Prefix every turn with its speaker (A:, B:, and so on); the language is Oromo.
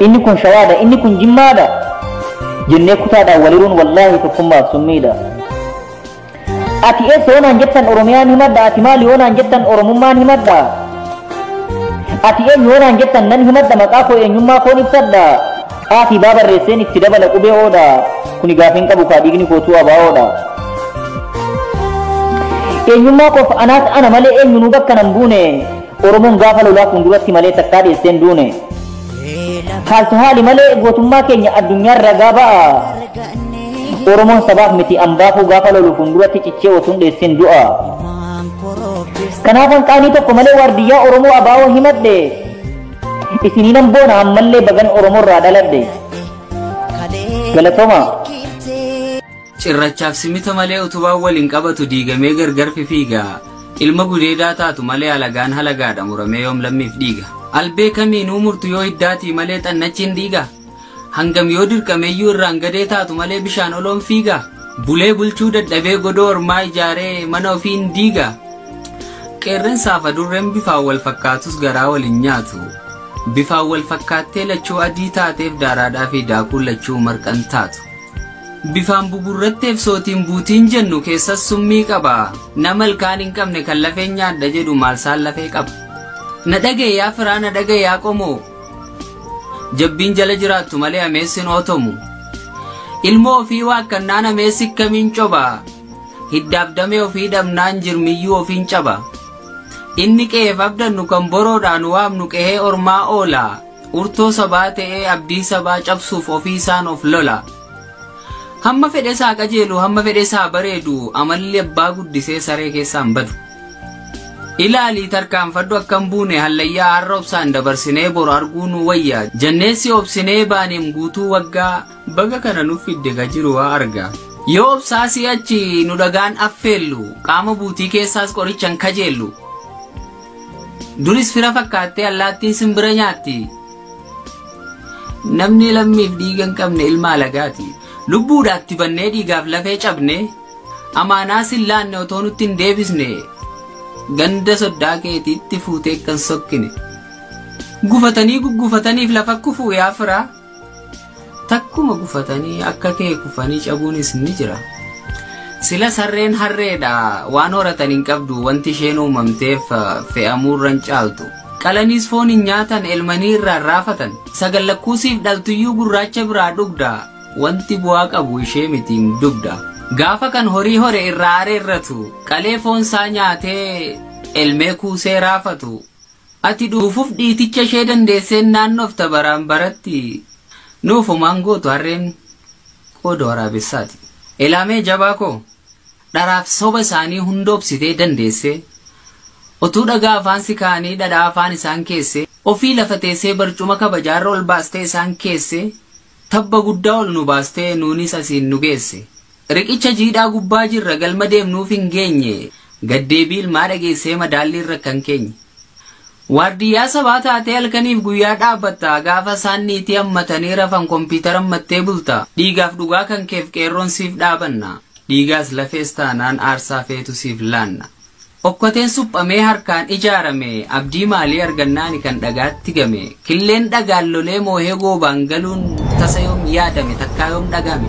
A: Inni kun shawaadha, inni kun jimmaadha jennee kutaadhaan waliruun wallaahi tokkummaaf summiidha. Ati eessa yoo naan jettan Oromiyaan himadha, ati maali yoo naan jettan Oromummaan himadha. Ati eenyu yoo naan jettan nan himadha maqaa koo eenyummaa koon ibsadha. Aafi baa barreesseen itti dabala qubee oodha. Kuni gaafiin qabu kaa dhiigni kootuu abaawoodha. Eenyummaa koof anaas ana malee eenyunuu bakka nan buune. Oromoon gaafa lolaa fuulduratti malee takkaa dheessee hin duune. Haaltu haali malee gootummaa keenya addunyaan ragaa ba'a. Oromoon sabaaf miti ambaafuu gaafa lolu fuulduratti cichee otuun dheessin du'a. Kanaafan qaanii tokko malee waardiyyaa Oromoo abaa'oo himadhe. Isinii nan boona ammallee bagan Oromoorraa dhaladhe. Galatoomaa. Cirrachaaf
B: simita malee utubaan wal hin qabatu diigamee gargar fifiiga. Ilma gudeedaa taatu malee alagaan halagaadha muramee yoom lammiif dhiiga. Albee kamiinuu murtu yoo hiddaatii malee xannachi hin dhiiga? Hangam yoo dirqameyyuu irraan gadee taatu malee bishaan ol oon fiiga? Bulee bulchuu dadhabee godoo ormaa ijaaree mana ofii hin diiga? Qeerrensaaf adurreen bifaan wal fakkaatus garaa wal hin nyaatu. Bifaan wal fakkaattee lachuu adii taateef daaraadhaa fi daakuun lachuu marqa hin taatu. Bifaan bugurratteef sootiin buutiin jennu keessas summii qaba. Nama ilkaan hin qabne kan lafeen nyaadha jedhu maalsaan lafee qaba. Na dhaga'e yaa firaa na dhaga'e yaa qomoo. Jabbiin jala jiraattu malee ameessin ootomu. Ilmoo ofii waakkannaan ameessi kamiin coba. Hiddaaf damee ofii dhabnaan jirmiyyuu ofiin caba. Inni qe'eef abdannu kan boroodhaan waamnu qe'ee ormaa oola. Urtoo sabaa ta'ee abdii sabaa cabsuuf ofii isaan of lola. Hamma fedhes haa qajeelu, hamma fedhes haa bareedu, amalli abbaa guddisee saree keessaa hin badu. Ilaali tarkaanfadhu akka hin buune hallayyaa har'a obsaan dabarsinee boru arguu nuu wayya jannee si obsinee baaneem guutuu waggaa baga kana nuf fidde ka jiru waa arga. Yoo obsaa si'achi nu dhagaan affeellu qaama buutii keessaas qorichan kajeellu. Duris fira fakkaattee allaattiin simbira nyaatti. Namni lammiif dhiiga hin qabne ilma alagaati. Lubbuudhaatti bannee dhiigaaf lafee cabne amaanaa sin laanne otoo nutti hin deebisne ganda soddaa keetiitti fuutee kan sokkine. Gufatanii guggufataniif lafa kufuu yaa firaa. Takkuma gufatanii akka kee kufanii cabuunis ni jira. Silas harreen harreedha waan horatan hin qabdu wanti isheen uumamteef fe'amuurran caaltu. Qalaniis foon hin nyaatan elmanii irraan raafatan. Sagal lakkuusiif dhaltuyyuu gurraacha biraa dhugda. Wanti bu'aa qabu ishee mitiin dugda. Gaafa kan horii hore irraa areerratu. Qalee foon isaa nyaatee elmee kuusee raafatu. Ati dhuufuf dhiiticha ishee dandeesseen naannofta baraan baratti nuuf homaan gootu harreen qooda waraabessaati. Elaamee jabaa koo dharaaf soba isaanii hunda obsitee dandeessee otuu dhagaa afaan si kaa'anii dhadhaa afaan isaan keessee ofii lafa teessee barcuma kabajaarra ol baastee isaan keessee Tabba guddaa ol nu baastee nuunis asiin nu geesse. Riqicha jiidhaa gubbaa jirra galma deemnuuf hin geenye gad deebii ilmaa dhageessee madaalliin rakkan keenya. Waardiyyaa sabaa taatee halkaniif guyyaa dhaabbatta gaafa isaan niitii hammatanii rafan kompiitara hammattee bulta dhiigaaf dhugaa kan keef qeerroon siif dhaabanna dhiigaas lafees taanaan aarsaa feetu siif laanna. Okkoteen suphamee harkaan ijaarame abdii maalii arganna ani kan dhagaatti game? Killeen dhagaan lolee moohee goobaan galuun tasa yoom yaadame takkaa yoom dhagahame?